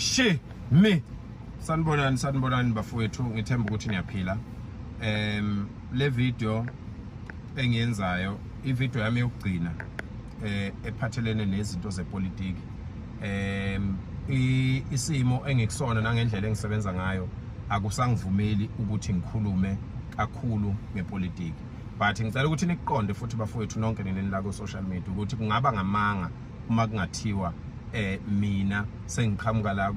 she me sanibonani sanibonani bafowethu ngithemba ukuthi niyaphila um le video engiyenzayo ivideo yami yokugcina eh ephathelene nezinto zepolitiki um isimo engikusona nangendlela engisebenza ngayo akusangivumeli ukuthi ngikhulume kakhulu ngepolitiki but ngicela ukuthi niqonde futhi bafowethu nonke nini la ku-social media ukuthi kungaba ngamanga uma kungathiwa eh mina sengiqhamuka la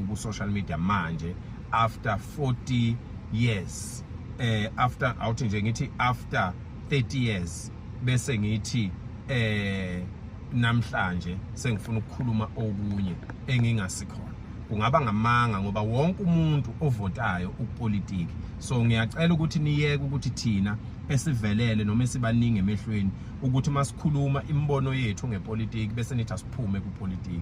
ku social media manje after 40 years eh after awuthi nje ngithi after 30 years bese ngithi eh namhlanje sengifuna ukukhuluma okunye engingasikhona kungaba ngamanga ngoba wonke umuntu ovotayo ukupolitiki so ngiyacela ukuthi niyeke ukuthi thina esivelele noma esibaningi emehlweni ukuthi uma sikhuluma imibono yethu ngepolitiki bese nithi asiphume kupolitiki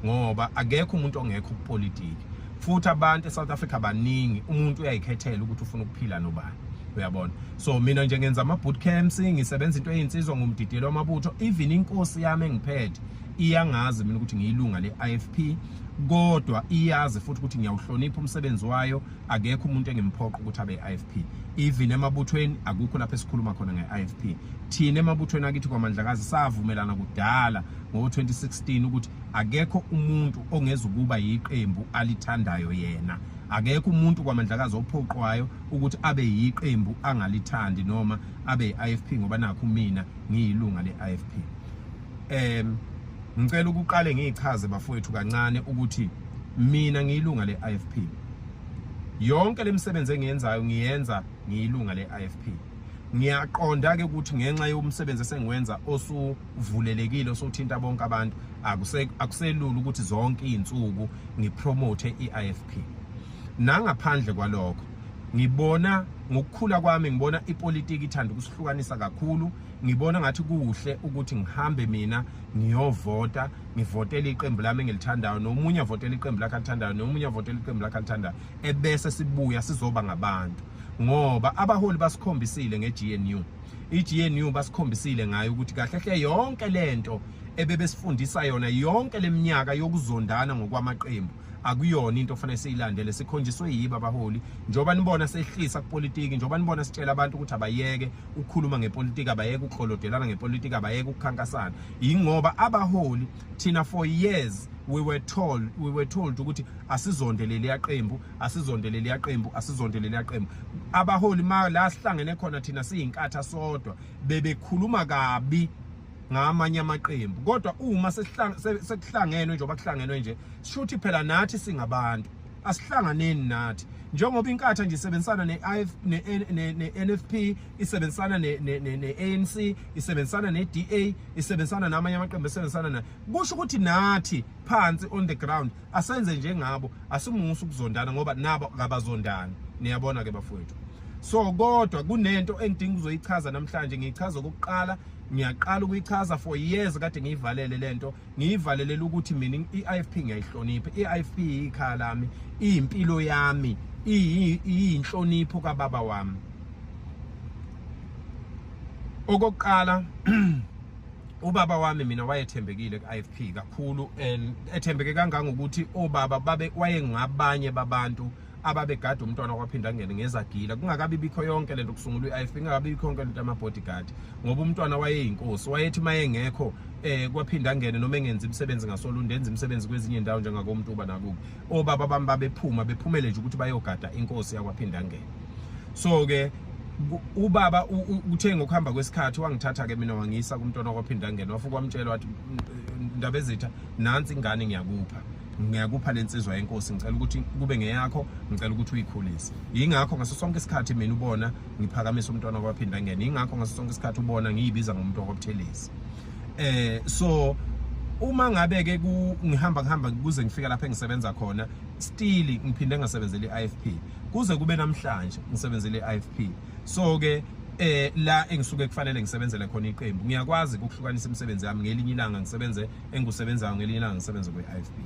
ngoba akekho umuntu ongekho kupolitiki futhi abantu eSouth Africa baningi umuntu uyayikhethela ukuthi ufuna ukuphila nobani uyabona so mina nje ngenza ama boot camps ngisebenza into eyinsizwa ngomdidiyelo wamabutho even inkosi yami engiphethe iyangazi mina ukuthi ngiyilunga le IFP kodwa iyazi futhi ukuthi ngiyawuhlonipha umsebenzi wayo akekho umuntu engimphoqa ukuthi abe IFP even emabuthweni akukho lapho esikhuluma khona ngeIFP thina emabuthweni akithi kwaMandlakazi savumelana kudala ngo2016 ukuthi akekho umuntu ongezukuba yiqembu alithandayo yena akekho umuntu kwaMandlakazi ophoqwayo ukuthi abe yiqembu angalithandi noma abe IFP ngoba nakho mina ngiyilunga leIFP um ngicela ukuqale ngiyichaze bafowethu kancane ukuthi mina ngiyilunga le-ifp yonke le misebenzi engiyenzayo ngiyenza ngiyilunga le-ifp ngiyaqonda-ke ukuthi ngenxa yomsebenzi esengiwenza osuvulelekile osuthinta bonke abantu akuselula ukuthi zonke iy'nsuku ngipromote i-ifp nangaphandle kwalokho ngibona ngokukhula kwami ngibona ipolitiki ithanda ukusihlukanisa kakhulu ngibona ngathi kuhle ukuthi ngihambe mina ngiyovota ngivotele iqembu lami engilithandayo nomunye avotele iqembu lakhe alithandayo nomunye avotele iqembu lakhe alithandayo ebese sibuya sizoba ngabantu ngoba abaholi basikhombisile ngeGNU iGNU basikhombisile ngayo ukuthi kahle hle yonke lento ebebesifundisa yona yonke leminyaka yokuzondana ngokwamaqembu akuyona into ofanele siyilandele sikhonjiswe yiba abaholi njengoba nibona sehlisa kupolitiki njengoba nibona sitshela abantu ukuthi abayeke ukukhuluma ngepolitiki abayeke ukukholodelana ngepolitiki abayeke ukukhankasana yingoba abaholi thina for years we were told we were told ukuthi asizondelele yaqembu asizondelele yaqembu asizondelele yaqembu abaholi ma la sihlangene khona thina siyinkatha sodwa bebekhuluma kabi ngamanye amaqembu kodwa uma sekuhlangenwe njengoba kuhlangenwe nje sishuthi phela nathi singabantu asihlanganeni nathi njengoba inkatha nje isebenzisana ne-NFP isebenzisana ne-ANC isebenzisana ne-DA isebenzisana namanye amaqembu esebenzisana nayo kusho ukuthi nathi phansi on the ground asenze njengabo asimusa ukuzondana ngoba nabo kabazondani niyabona ke bafowethu so kodwa kunento engidinga ukuzoyichaza namhlanje ngiyichaza okokuqala ngiyaqala ukuyichaza for years kade ngiyivalele lento ngiyivalelela ukuthi mina i-IFP ngiyayihlonipha i-IFP ikhaya lami iyimpilo yami iyinhlonipho kababa wami okokuqala ubaba wami mina wayethembekile ku-IFP kakhulu and ethembeke kangangokuthi obaba babe wayengabanye babantu ababegada umntwana kwaphinde angene ngezagila kungakabi bikho yonke lento kusungulwa i-IFP kungakabi bikho yonke lento ama-bodyguard ngoba umntwana wayeyinkosi wayethi uma engekho eh kwaphinde angene noma engenzi imisebenzi ngasolunde enza imisebenzi kwezinye indawo njengakomuntu uba nakubo obaba bami babephuma bephumele nje ukuthi bayogada inkosi yakwaphinde angene so-ke ubaba uthe ngokuhamba kwesikhathi wangithatha-ke mina wangiyisa kumntwana kwaphinde angene wafuke wamtshela wathi ndaba ezitha nansi ingane ngiyakupha ngiyakupha lensizwa yenkosi ngicela ukuthi kube ngeyakho ngicela ukuthi uyikhulise yingakho ngaso sonke isikhathi mina ubona ngiphakamisa umntwana kwaphinda ngene yingakho ngaso sonke isikhathi ubona ngiyibiza ngomuntu okwabuthelezi eh so uma ngabe ke ngihamba ngihamba kuze ngifika lapha engisebenza khona still ngiphinde ngasebenzela iIFP kuze kube namhlanje ngisebenzela iIFP so ke eh la engisuke kufanele ngisebenzele khona iqembu ngiyakwazi ukuhlukanisa imisebenzi yami ngelinye ilanga ngisebenze engusebenzayo ngelinye ilanga ngisebenze kwi-ifb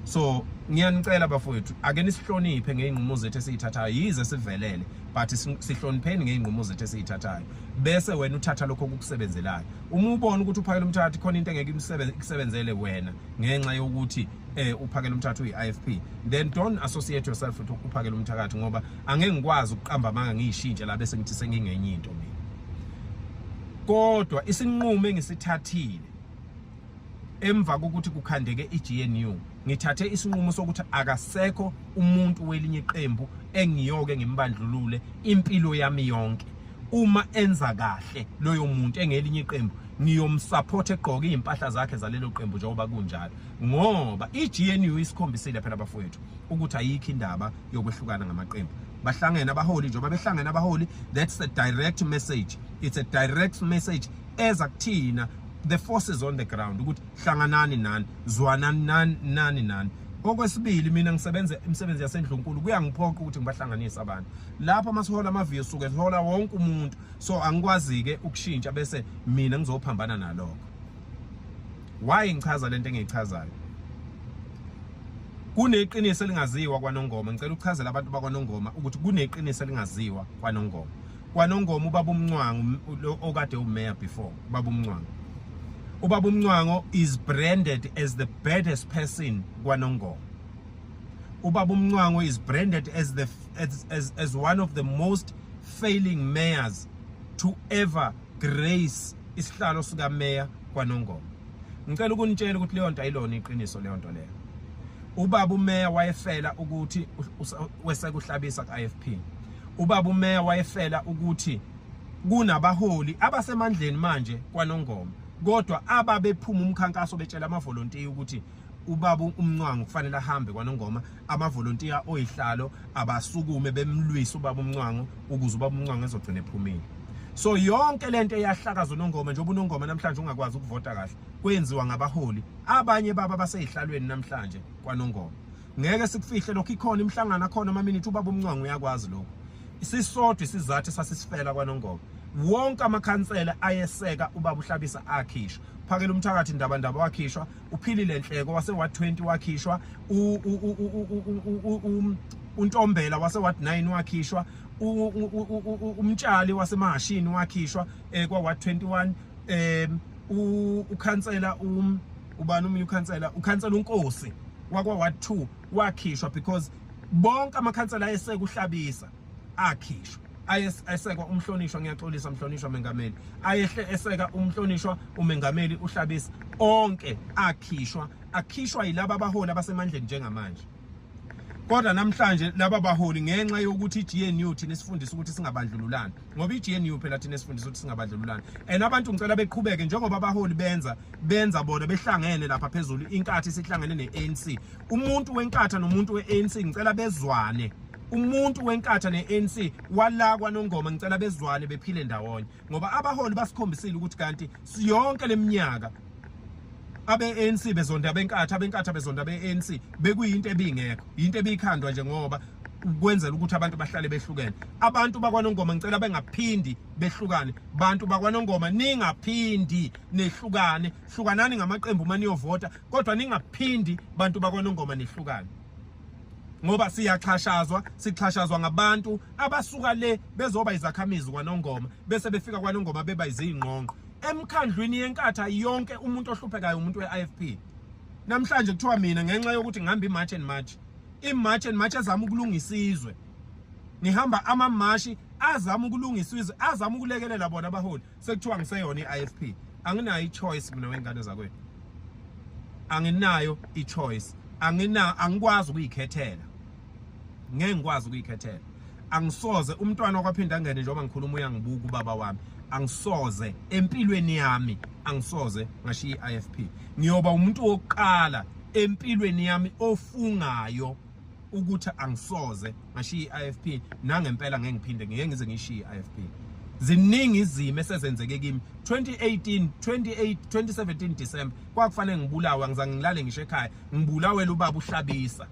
so ngiyanicela bafowethu ake nisihloniphe ngey'nqumo zethu esiyithathayo yize sivelele but sihlonipheni ngey'nqumo zethu esiyithathayo bese wena uthatha lokho okukusebenzelayo uma ubona ukuthi uphakela umthathi khona into engeke ikusebenzele wena ngenxa yokuthi eh uphakela umthatha uyi-ifp then don't associate yourself with uphakela umthakathi ngoba angeke ngikwazi ukuqamba amanga ngiyishintshe la bese ngithi sengingenye into mina kodwa isinqumo engisithathile emva kokuthi kukhandeke iGNU ngithathe isinqumo sokuthi akasekho umuntu welinye iqembu engiyoke ngimbandlulule impilo yami yonke uma enza kahle loyo muntu engelinye iqembu ngiyomsupport egqoke izimpahla zakhe zalelo qembu njengoba kunjalo ngoba iGNU isikhombisile phela bafowethu ukuthi ayikho indaba yokwehlukana ngamaqembu bahlangene abaholi njengoba behlangene abaholi that's a direct message it's a direct message eza kuthina the forces on the ground ukuthi hlanganani nani zwanani nani nani nani okwesibili mina ngisebenza imisebenzi yasendlunkulu kuyangiphoqa ukuthi ngibahlanganise abantu lapho uma sihola amaviyo suke sihola wonke umuntu so angikwazi-ke ukushintsha bese mina ngizophambana nalokho why ngichaza lento engiyichazayo kuneqiniso elingaziwa kwanongoma ngicela ukuchazela abantu bakwanongoma ukuthi kuneqiniso elingaziwa kwanongoma kwanongoma ubaba umncwango okade umayor before ubaba umncwango ubaba umncwango is branded as the baddest person kwanongoma ubaba umncwango is branded as the as, as, as one of the most failing mayors to ever grace isihlalo sika mayor kwanongoma ngicela ukunitshela ukuthi leyo nto ayilona iqiniso leyo nto leyo ubaba umeya wayefela ukuthi wesekuhlabisa ku-IFP Ubaba uMeya wayefela ukuthi kunabaholi abasemandleni manje kwaNongoma kodwa ababephuma umkhankaso betshela amavolontiya ukuthi ubaba umncwango kufanele ahambe kwanongoma amavolontiya oyihlalo abasukume bemlwisa ubaba umncwango ukuze ubaba umncwango ezogcina ephumile so yonke lento eyahlakaza unongoma njengoba unongoma namhlanje ungakwazi ukuvota kahle kwenziwa ngabaholi abanye baba baseyihlalweni namhlanje kwanongoma ngeke sikufihle lokho ikhona imihlangano akhona amaminithi ubaba umncwango uyakwazi lokho isisodwa isizathu sasisifela kwanongoma wonke amakhansela ayeseka ubaba uhlabisa akhishwa phakela umthakathi ndaba ndaba wakhishwa uphilile nhleko wase wa 20 wakhishwa untombela wase wa 9 wakhishwa umtshali wasemahashini wakhishwa eh, kwa wa 21 eh ukhansela um ubani umunye ukhansela ukhansela unkosi wakwa ward 2 wakhishwa because bonke amakhansela ayesekuhlabisa akhishwa ayesekwa umhlonishwa ngiyaxolisa mhlonishwa mengameli ayehle eseka umhlonishwa umengameli uhlabisa onke akhishwa akhishwa yilabo abaholi abasemandleni njengamanje kodwa namhlanje laba baholi ngenxa yokuthi iGNU thina sifundisa ukuthi singabandlululani ngoba i-GNU phela thina esifundisa ukuthi singabadlululani and abantu ngicela beqhubeke njengoba abaholi benza benza bona behlangene lapha phezulu inkathi sihlangene ne-ANC umuntu wenkatha nomuntu we-ANC ngicela bezwane umuntu wenkatha ne-ANC wala kwanongoma ngicela bezwane bephile ndawonye ngoba abaholi basikhombisile ukuthi kanti siyonke leminyaka abe-ANC bezonda abenkathi abenkathi abezonda abe-ANC bekuyinto ebingekho yinto ebikhandwa nje ngoba ukwenzela ukuthi abantu bahlale behlukene abantu bakwanongoma ngicela bengaphindi behlukane bantu bakwanongoma ningaphindi nehlukane hlukanani ngamaqembu uma niyovota kodwa ningaphindi bantu bakwanongoma nehlukane ngoba siyaxhashazwa sixhashazwa ngabantu abasuka le bezoba izakhamizi kwanongoma bese befika kwanongoma beba izingqongqo emkhandlwini yenkatha yonke umuntu ohluphekayo umuntu we-IFP namhlanje kuthiwa mina ngenxa yokuthi ngihamba imarch and march imarch and march ezama ukulungisa izwe ngihamba amamashi azama ukulungisa izwe azama ukulekelela bona abaholi sekuthiwa ngiseyona i-IFP anginayo i-choice mina wengane zakwethu anginayo i-choice angina angikwazi ukuyikhethela ngeke ngikwazi ukuyikhethela angisoze umntwana okwaphinda angene njengoba ngikhuluma uyangibuka ubaba wami angisoze empilweni yami angisoze ngashiya i-IFP ngiyoba umuntu wokuqala empilweni yami ofungayo ukuthi angisoze ngashiya i-IFP nangempela ngeke ngiphinde ngeke ngize ngishiye i-IFP ziningi izimo esezenzeke kimi 2018 28 2017 December kwakufanele ngibulawa ngizange ngilale ngisho ekhaya ngibulawela ubaba uhlabisa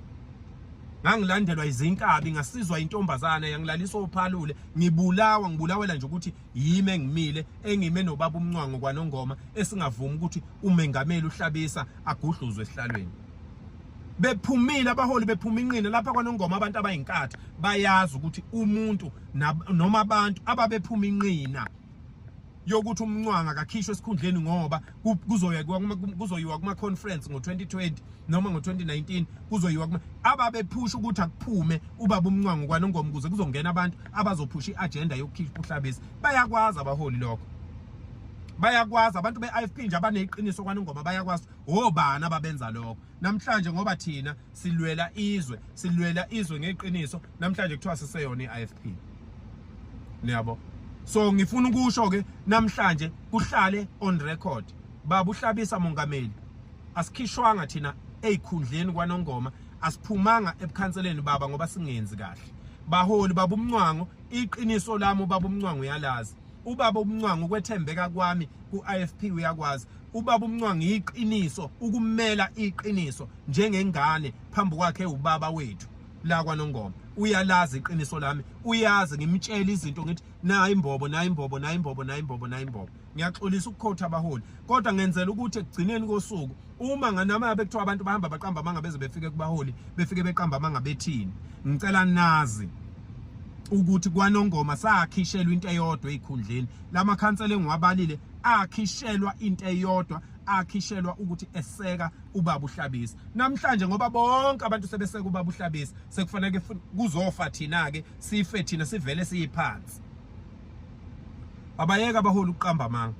ngangilandelwa izinkabi ngasizwa intombazana yangilaliswa ophalule ngibulawa ngibulawela nje ukuthi yimi engimile engime nobaba umncwango kwanongoma esingavumi ukuthi umengameli uhlabisa agudluzwe esihlalweni bephumile abaholi bephuma inqine lapha kwanongoma abantu abayinkathi bayazi ukuthi umuntu noma abantu ababephuma inqina yokuthi umncwanga akakhishwe esikhundleni ngoba kuzoyiwa kuzoyiwa kuma conference ngo2020 noma ngo2019 kuzoyiwa kuma ababephusha ukuthi akuphume ubaba umncwanga kwanongoma kuze kuzongena abantu abazophusha iagenda yokukhishwa uhlabesi bayakwazi abaholi lokho bayakwazi abantu be-IFP nje abaneqiniso kwanongoma bayakwazi obani ababenza lokho namhlanje ngoba thina silwela izwe silwela izwe ngeqiniso namhlanje kuthiwa siseyona i-IFP niyabo so ngifuna ukusho ke namhlanje kuhlale on record baba uhlabisa mongameli asikhishwanga thina ezikhundleni kwanongoma asiphumanga ebukhanseleni baba ngoba singenzi kahle baholi baba umncwango iqiniso lami ubaba umncwango uyalazi ubaba umncwango ukwethembeka kwami ku-IFP uyakwazi ubaba umncwango iqiniso ukumela iqiniso njengengane phambi kwakhe ubaba wethu la kwanongoma uyalazi iqiniso lami uyazi ngimtshela izinto ngithi nayi imbobo nayi imbobo nayi imbobo nayi imbobo nayi imbobo ngiyaxolisa ukukhotha abaholi kodwa ngenzela ukuthi ekugcineni kosuku uma nganamaya bekuthiwa abantu bahamba baqamba amanga beze befike kubaholi befike beqamba amanga bethini ngicela nazi ukuthi kwanongoma sakhishelwa into eyodwa ezikhundleni lamakhansela engiwabalile akhishelwa into eyodwa akhishelwa ukuthi eseka ubaba uhlabisa namhlanje ngoba bonke abantu sebeseke ubaba uhlabisa sekufanele kuzofa thina ke sife thina sivele siyiphansi abayeka baholi uqamba manga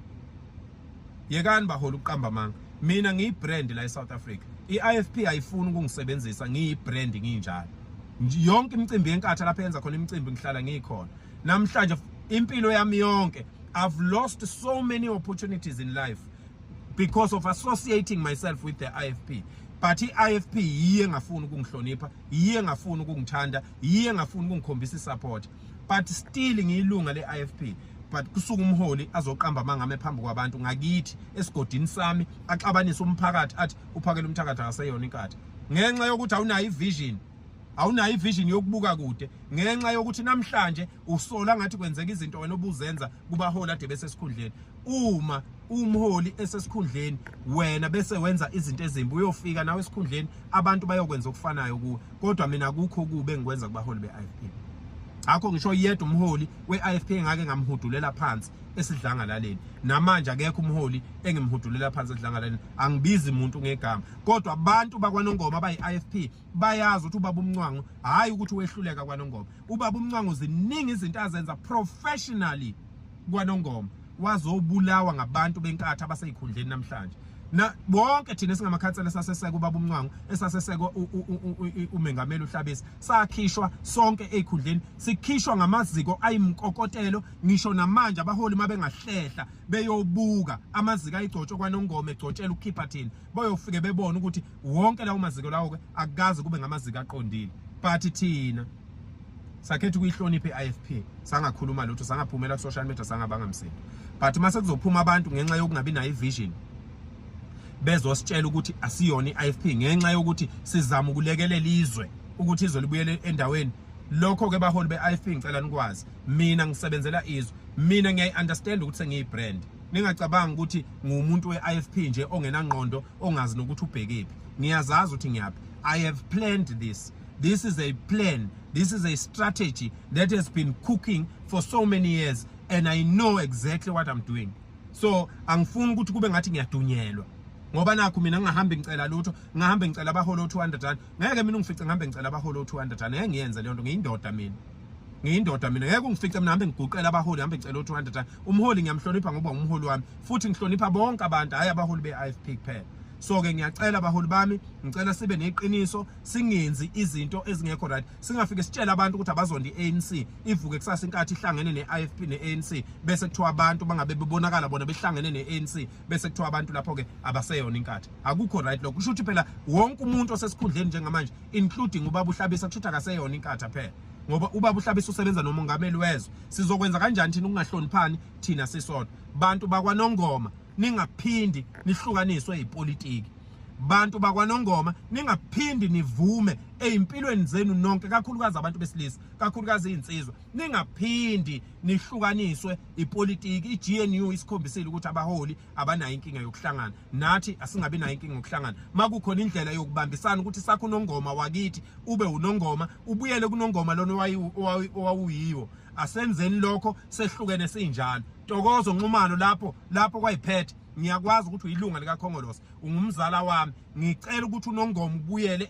yekani baholi uqamba manga mina ngiyibrand la eSouth Africa iIFP ayifuni ukungisebenzisa ngiyibrand nginjalo yonke imicimbi yenkatha lapha yenza khona imicimbi ngihlala ngikhona namhlanje impilo yami yonke i've lost so many opportunities in life because of associating myself with the IFP but i-IFP yiye engafuni ukungihlonipha yiye engafuni ukungithanda yiye engafuni ukungikhombisa isupport but still ngiyilunga le-IFP but kusuka umholi azoqamba amangame phambi kwabantu ngakithi esigodini sami axabanise umphakathi athi uphakele umthakathi akaseyona inkatha ngenxa yokuthi awunayo ivision awunayo ivision yokubuka kude ngenxa yokuthi namhlanje usola ngathi kwenzeka izinto wena obuzenza kubaholi ade bese esikhundleni uma umholi esesikhundleni wena bese wenza izinto ezimbi uyofika nawe esikhundleni abantu bayokwenza okufanayo kuwe kodwa mina kukho kube ngikwenza kubaholi be-IFP akho ngisho yedwa umholi we-IFP ngake ngamhudulela phansi esidlangalaleni namanje akekho umholi engimhudulela phansi esidlangalaleni angibizi umuntu ngegama kodwa abantu bakwanongoma abayi-IFP bayazi ukuthi ubaba umncwango hhayi ukuthi wehluleka kwanongoma ubaba umncwango ziningi izinto azenza professionally kwanongoma wazobulawa ngabantu benkatha abaseyikhundleni namhlanje na bonke thina singamakhansela saseseka ubaba umncwango esaseseka umengameli uhlabisa sakhishwa sonke ezikhundleni sikhishwa ngamaziko ayimkokotelo ngisho namanje abaholi mabengahlehla beyobuka amaziko ayigcotshwe kwanongoma egcotshela ukukhipha thina bayofike bebona ukuthi wonke lawo maziko lawo ke akukaze kube ngamaziko aqondile but thina sakhetha ukuyihlonipha i-IFP sangakhuluma lutho sangaphumela ku-social media sangabanga msindo but uma sekuzophuma abantu ngenxa yokungabi nayo i-vision bezositshela ukuthi asiyona i-IFP ngenxa yokuthi sizama ukulekelela izwe ukuthi izwe libuyele endaweni lokho ke baholi be-IFP ngicela nikwazi mina ngisebenzela izwe mina ngiyayi-understand ukuthi sengiyi-brand ningacabangi ukuthi ngumuntu we-IFP nje ongenangqondo ongazi nokuthi ubhekephi ngiyazazi ukuthi ngiyaphi i have planned this this is a plan this is a strategy that has been cooking for so many years and i know exactly what i'm doing so angifuni ukuthi kube ngathi ngiyadunyelwa ngoba nakho mina ngingahambe ngicela lutho ngingahambe ngicela abaholo 200 rand ngeke mina ungifice ngihambe ngicela abaholo 200 rand ngeke ngiyenze leyo nto ngiyindoda mina ngiyindoda mina ngeke ungifice mina hambe ngiguqela abaholi hambe ngicela u200 umholi ngiyamhlonipha ngoba umholi wami futhi ngihlonipha bonke abantu hayi abaholi be-ifp kuphela so ke ngiyacela abaholi bami ngicela sibe neqiniso singenzi izinto ezingekho right singafike sitshele abantu ukuthi abazonda i-ANC ivuke kusasa inkathi ihlangene ne-IFP ne-ANC bese kuthiwa abantu bangabe bebonakala bona behlangene ne-ANC bese kuthiwa abantu lapho ke abaseyona inkathi akukho right lokho kusho ukuthi phela wonke umuntu osesikhundleni njengamanje including ubaba uhlabisa kusho ukuthi akaseyona inkathi phela ngoba ubaba uhlabisa usebenza nomongameli wezwe sizokwenza kanjani thina ukungahloniphani thina sisodwa bantu bakwanongoma ningaphindi nihlukaniswe yipolitiki bantu bakwanongoma ningaphindi nivume ezimpilweni zenu nonke kakhulukazi abantu besilisa kakhulukazi izinsizwa ningaphindi nihlukaniswe ipolitiki iGNU isikhombisile ukuthi abaholi abanayo inkinga yokuhlangana nathi asingabi nayo inkinga ngokuhlangana makukhona indlela yokubambisana ukuthi sakho unongoma wakithi ube unongoma ubuyele kunongoma lona owawuyiwo asenzeni lokho sehlukene sinjalo tokozo nxumalo lapho lapho kwayiphethe ngiyakwazi ukuthi uyilunga likakhongolose ungumzala wami ngicela ukuthi unongoma ubuyele